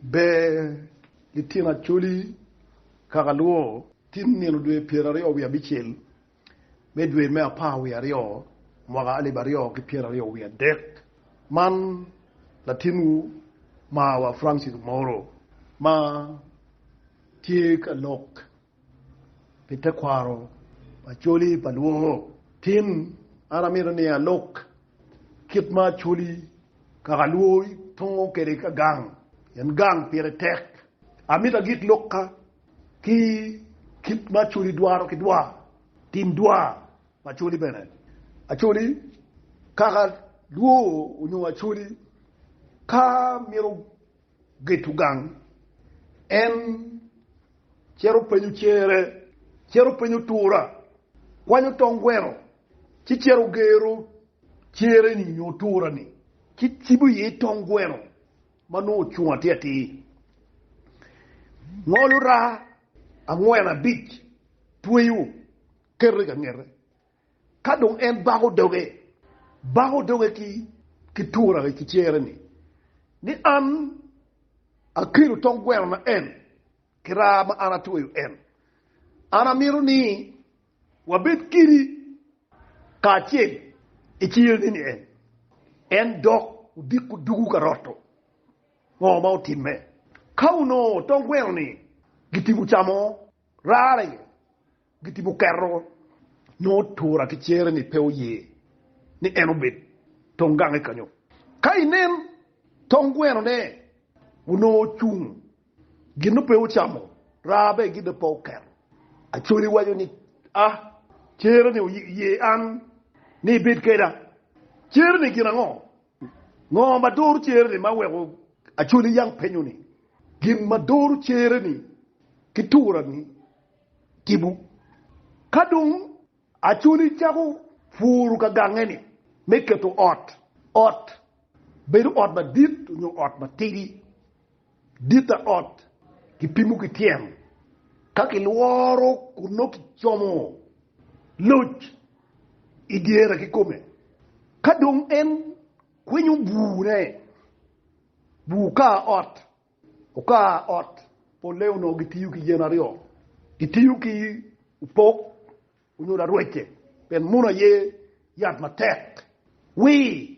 Ber litino Acholi kaka luwo. Tin nino dwe pyera aryo wiye abicel me dwe me apar wiye aryo mwaka alip aryo ki pyera aryo wiye adek man latinwu marwa Francis Omoro ma tye ka lok. Pi tekwaro Acholi pa lwongo tin, an amito ni alok kit ma Acholi kaka lwoyi tongo kwede ka gang, pien gang pire tek. Amito agik lokka ki kit ma Acholi dwaro ki dwa, tim dwa pa Acholi bene. Acholi kaka lwoo onyo Acholi ka mito Geto gang. En cito penyo cere, cito penyo tura, kwanyo tong gweno, ci cito gero cere-ni nyo tura-ni, ci cibo iye tong gweno ma nongo ocung atir atir. Ngolo raa angwen abic, tweyo, keto i ka ngete. Ka dong en bako doge, bako doge ki turane ki cere-ni, ni an akelo tong gweno na en ki raa ma an atweyo en. An amito ni wabed kidi kacel i cere-ni ni en. En dok odiko dugu ka roto ngo ma otimme. Ka onongo tong gweno-ni gitimo camo rara iye, Gitimo keto nongo tura ki cere ni pe oye ni en obed tong gange kanyo. Ka inen tong gweno ne onongo ocung gin ope ocamo raa be gin aye pe oketo. Acholi waco ni a cere ni oye an ni ibed keda. Cere ni gin ango? Ngo ma doro cere ni ma weko acholi yang penyo ni gin ma doro cere ni ki tura ni? tipo. Ka dong Acholi cako puru ka gange-ni me keto ot, ot, bedo ot madit nyo ot matidi, dit pa ot kipimo ki tyen, ka kilworo kun nongo kicomo loc i dyere kikome. Ka dong en kwinyo bur-ne, bur kar ot, Okar ot polle onongo gitiyo ki yen aryo, gitiyo ki opok onyo larwece pien muno aye yat matek wir.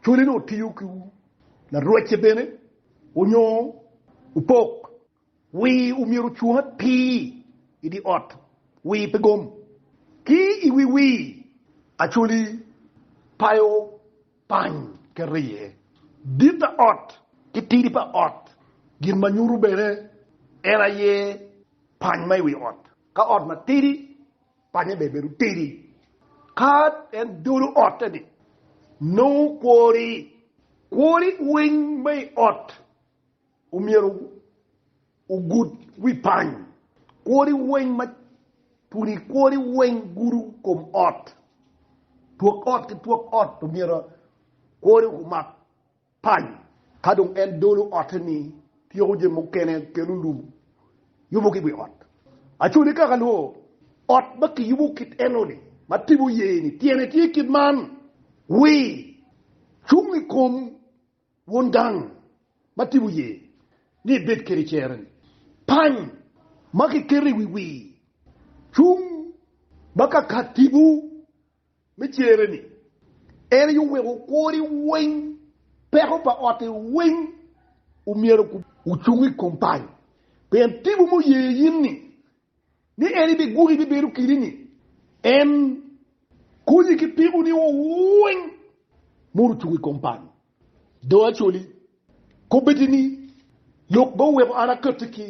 Cwale dong otiyo ki larwece bene onyo opok wir omyero ocung atir i di ot wir pe gom. Ki i wi wir, Acwali payo. pany ki riye, dit pa ot ki tidi pa ot, gin ma nyuto bene en aye pany ma i wi ot. Ka ot matidi, panye bene bedo tidi. Ka en dolo otte-ni, nongo kwori, kwori winy ma i ot. omyero ogud wi pany. Kwori weng ma puni kwori weng gudu kom ot, twok ot ki twok ot omyero kwori omak pany. Ka dong en dolo ote-ni, tyeko jami mukene, kelo lum, yubo ki wi ot. Acwali ka kalwo, ot ma kiyubo kit eno-ni ma tipo ye-ni tyene tye kit man, Wi cung i kom Won gang ma tipo ye ni ibed kede cere-ni. Pany ma kiketo i wi wir cung ma ka kat tipo me cere-ni. En aye oweko kwori weng, peko pa otti weng omyero ocung i kom pany, pien tipo muye in-ni ni en ibiguli bibedo kidini, en konyi ki pikoni o weng modo ocung i kom pal. Do acoli kobbeti ni, Lok ma oweko an akatti ki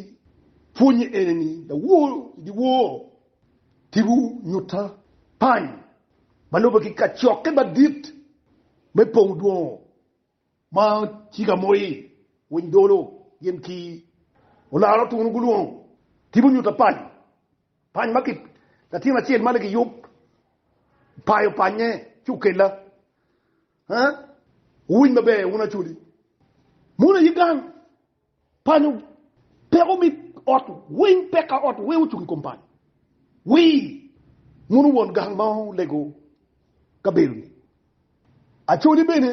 pwonye ene ni, lawor i dyewor tipo nyutta pany ma lube ki kacokke madit me pong dwongo. Ma ci ka moyi winy dolo gin ki olaro tunu gulwongo tipo nyuta pany pany ma ki latin acel ma ligi yub payo panye ci okella eh wuwiny maber wun acholi muna ye gang. Panyo peko me ot weng peka ot weng ocung i kom panyo wir muno won gang ma olego kabedo-ni. Acoli bene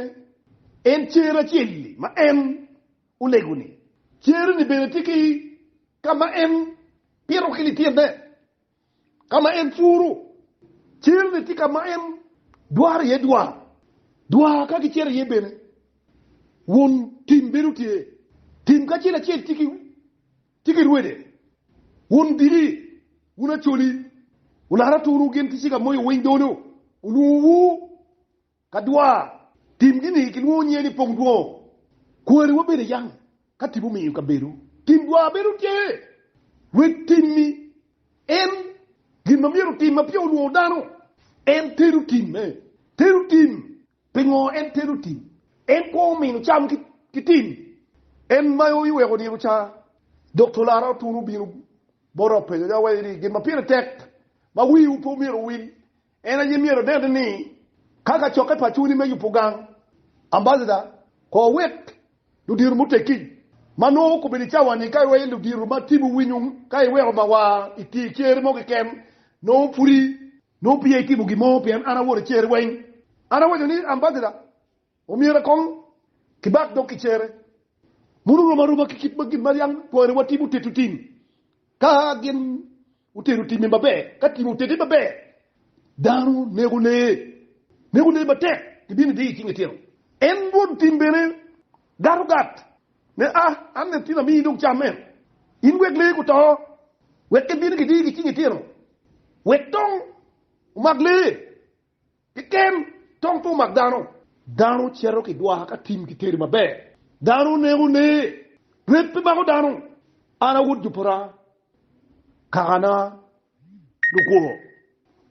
en cer acel-li ma en olego-ni. Cer-ni bene tye ki ka ma en pito ki lityenene. ka ma en puro, cel-li tye ka ma en dwaro iye dwar, dwar ka gicito iye bene, won tim bedo tye. Tim kacel acel tye ki rwede, won diki, wun acoli, wularo aturu gin ki cika moyo winy dolo, olwongowu. Ka dwar timgi-ni kilwongo nyinge ni pong dwongo, kwariwa bene yam ka tipo omiyo kabedo tim dwar bedo tye, wek timmi en gin ma myero otim ma peya olwongo dano. En tero tim, en tero tim. Pingo en tero tim? En kwo omino cam ki tim. En mayo iweko nino ca, dok colara otuno bino bota openyo ni, Awayi ni gin ma pire tek ma wiwu pe omyero owil En aye myero onen ni ka kacokke pa cwiny me yubo gang, ambassador, kor wek ludiro muteggi ma nongo kobedo i cawa-ni ka irweyo ludiro ma tibu winyo ka iweko ma wa i tye cer mo keken nongo pudi nongo peya itimo gin mo pien an awoto i cer weng. An awaco ni ambassador omyero kong kibak dog ki cere muno rom aroma ki kit ma gin ma yang twani wa tibu tito tim ka gin Otito timmi maber. Ka timmi otiti maber, dano neko lee. Neko lee matek gibino idiyo icing itino. En Rwod tim bene gato gat ne a, an bene tin amiyi dong cam meno. In wek lee guto, wek gibino gidiyo gicing itino, wek dong omak lee. Pi kem, tong pe omak dano. Dano cito ki dwaka ka tim ki teri maber. Dano neko lee. Rep pe mako dano. An a wod jo pota, kakana lukwo.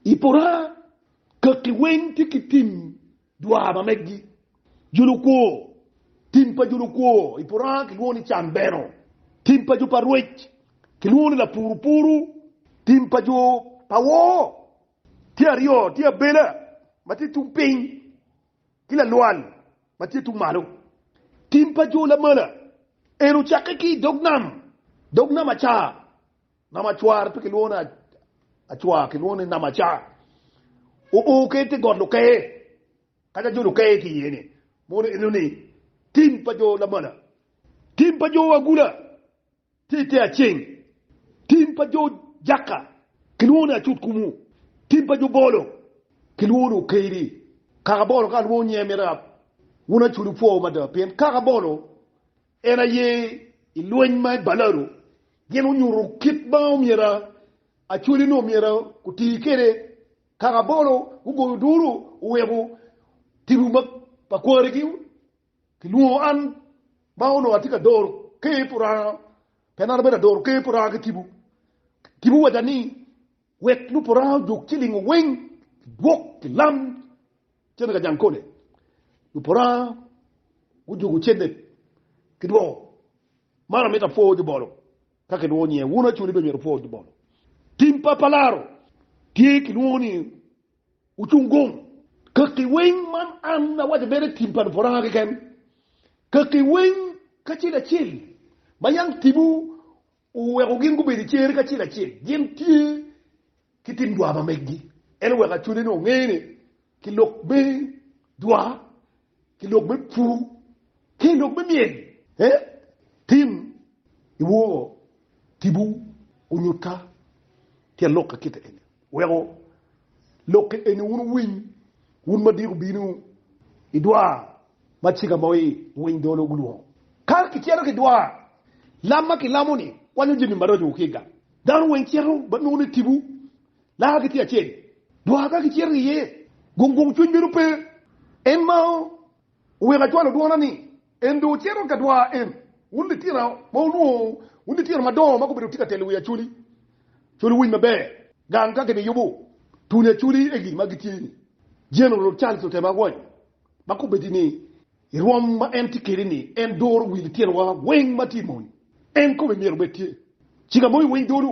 I pota, kaki weng tye ki tim dwa ma meggi. Jo lukwo, Tim pa jo lukwo i pota kilwongo ni cambeno. Tim pa jo pa rwec kilwongo ni lapurupuru. Tim pa jo pa woo. Tye aryo, tye abela ma tye tung piny ki lalwal ma tye tung malo. Tim pa jo lamala eni ocakke ki i dog nam, dog nam acar, nam acwar, pe kilwongo ni acwar, kilwongo ni nam acar, oo ki i te got lukeye, ka ca jo lukeye ki iye-ni. Mono enoni tim pa jo lamala. Tim pa jo agula. Tite aceng, Tim pa jo Jakka kilwongo ni Acutkumu, tim pa jo Bolo kilwongo ni Okeiri. Kaka Bolo ka alwongo nyinge miti rab, wun Acudu pwowu mada, pien kaka Bolo en aye i lweny ma i Baladu, gin wunyutu kit ma omyero Acudu-ni omyero guti kwede. Kaka Bolo gugoyo duru oweko timwu pa kwarigi Kilwongo an ma onongo atye ka doro ker pi Oranga, pien an abedo adoro ker pi Oranga ki tipo. Tipo owaca ni, Wek lub Oranga ojuk ci lingo weng ki gwok ki lam cente ka jang kole. Lub Oranga gujuko cente ki dwoko. Man amito apwo jubolo ka kilwongo nyinge. Wun acoli bene myero wupwo jubolo. Tim pa palaro tye kilwongo ni Ocung gung. Kakki weng man an awaco bene tim pa Luporanga keken, kakki weng kacel acel ma yam timwu oweko gin gubedo i cer kacel acel, gin tye ki tim dwa ma meggi. En oweko acwaleni onge ni ki lok me dwa ki lok me pur, ki i lok me myel. He, tim i wor tipo onyutta ki alokke kite eni, weko lokke eni wun wuwiny, wun ma diko bino i dwa ma cika ma winy dolo gulwongo. Ka kicito ki dwa, lam ma kilamo-ni kwanyo jami maraco ki i gang. Dano weng cito ba nongo ni tipo Lakagi tye acel, dwar ka gicito ki iye, gung gung cwiny bedo pe. En ma oweko acwalo dwona ni, En dong cito ka dwar en. Wun litira ma wunwono, wun litira madongo ma gubedo tye ka telo wi Acholi, Col Winy Maber, gang ka gimiyubu tuni Acholi egi ma gitye ni, General Charles Otema Agwony, ma kobedi ni, I rwom ma en tye kwede-ni, en doro wi litinowa weng ma tye i mony. En kome myero obed tye cika mo i winy dolo,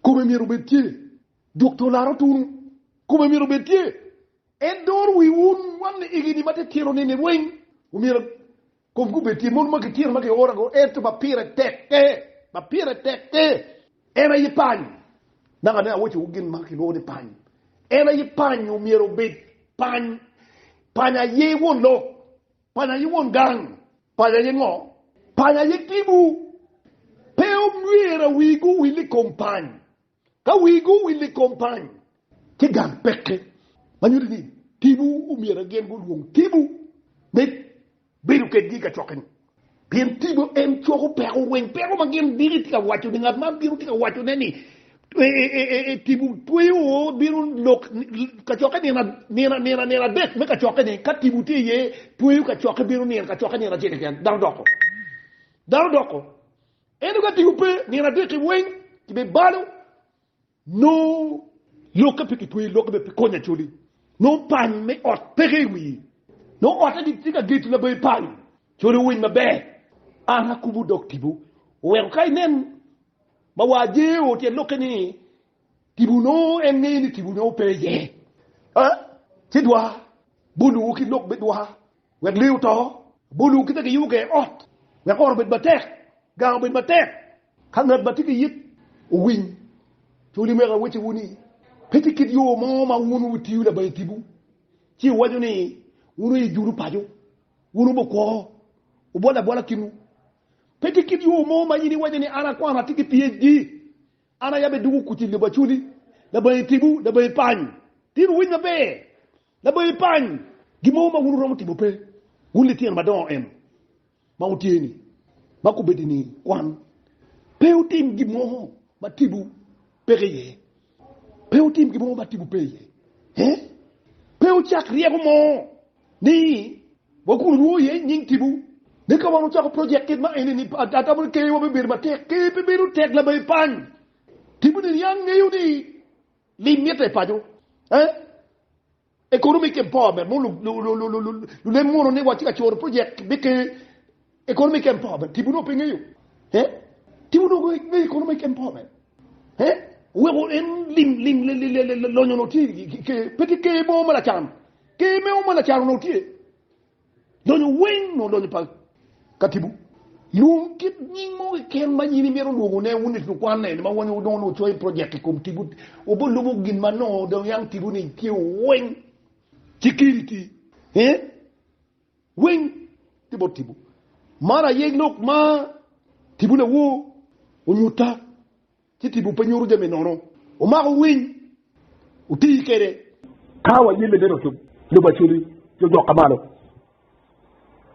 kome myero obed tye dok to laro tunu, kome myero obed tye. En doro wi wun wan igi-ni ma titino-ni weng, omyero komgi obed tye. Mon ma gitino ma giorago, ento ma pire tekke, ma pire tekke. En aye pany. Naka ne awoccowu gin ma kilwongo ni pany. En aye pany, omyero obed pany. Pany aye won lok. Pany aye won gang. Pany aye ngo? Pany aye tibu. Pe omyero wigu owil i kom pany. Ka wigu owil i kom pany, ci gang peke. Ma nyuti ni tibu omyero gin gulwong tibu me Bedo kedgi i kacokeni, pien tipo en coko peko weng, peko ma gin diki tye ka wacone. Ngat ma bino tye ka wacone ni tipo tweyo bino lok kacokke nino nino nino adek me kacokkeni. Ka tipo tye iye, tweyo kacokke bino nino kacokke nino acel keken, dano doko. Dano doko. Ento ka tipo pe, nino adek-ki weng kibibalo. Nongo lokke pe kitweyo lokke me pi konyo Acholi. Nongo pany me ot peke i wii. Nongo otta gitye ka geto labayi pany. Acholi owiny maber. An akubo dog tipo. Oweko ka inen ma waa jee oo tyen lokke ni tipo nongo en ngeyo ni tipo nongo pe iye. Aa, ci dwa bolowu ki lok me dwa. Wek lee oto, bol ongo kite giyubo ger ot, wek ot obed matek, gang obed matek. Ka ngat ma tye ki it owiny, co limego awecciwu ni, pe tye kit yo mo ma wun wutiyo labayi tipo, ci iwaco ni, 'Wun oye judo paco, wun wube okwo, wubol abola kinwu. Pe tye kit yo mo ma in iwaco ni, 'An akwano, atye ki PHD, an aye abeduko kuc i lobo acoli, labayi tipo, labayi pany, tin owiny maber, Laboyo ipany gin mogo ma wun wuromo timo pe, wun litino madongo eno ma wutye-ni, ma kubedini kwan pe wutim gin mogo ma tipo peke iye, pe wutim gin mogo ma tipo pe iye, ee, pe wucak ryeko mo ni wa kun wulwongo iye nying tipo, ni ka wan wucako project kit ma eni-ni, atamo ni keyowa bibedo matek. Keyo pe bedo tek, laboyo ipany. Tipo-ni niang ngeyo ni Lim mitte i paco. Economic empowerment mogo lunen mono ni watye ka coro project me ker economic empowerment tipo nongo pe ngeyo tipo nongo ngeyo economic empowerment weko en lim lim lonyo nongo tye ker pe tye ker mogo ma lacan ker mogo ma lacan onongo tye Lonyo weng nongo lonyo pa katibu. Lwong kit nying mo keken ma in imito lwongo ne wun lukwanne ni ma wun nongo nongo wucoyo i project i kom tibu. Obo lubo gin ma nongo dong yang tibu ni tye weng. Security he weng tye bot tibu. Mar aye lok ma tibu lawoo onyuta. Ci tipo pe nyuto jami nono. Omako winy, otii kede. Ka wayelle bene ocub, lub aculi, jo jok ka malo.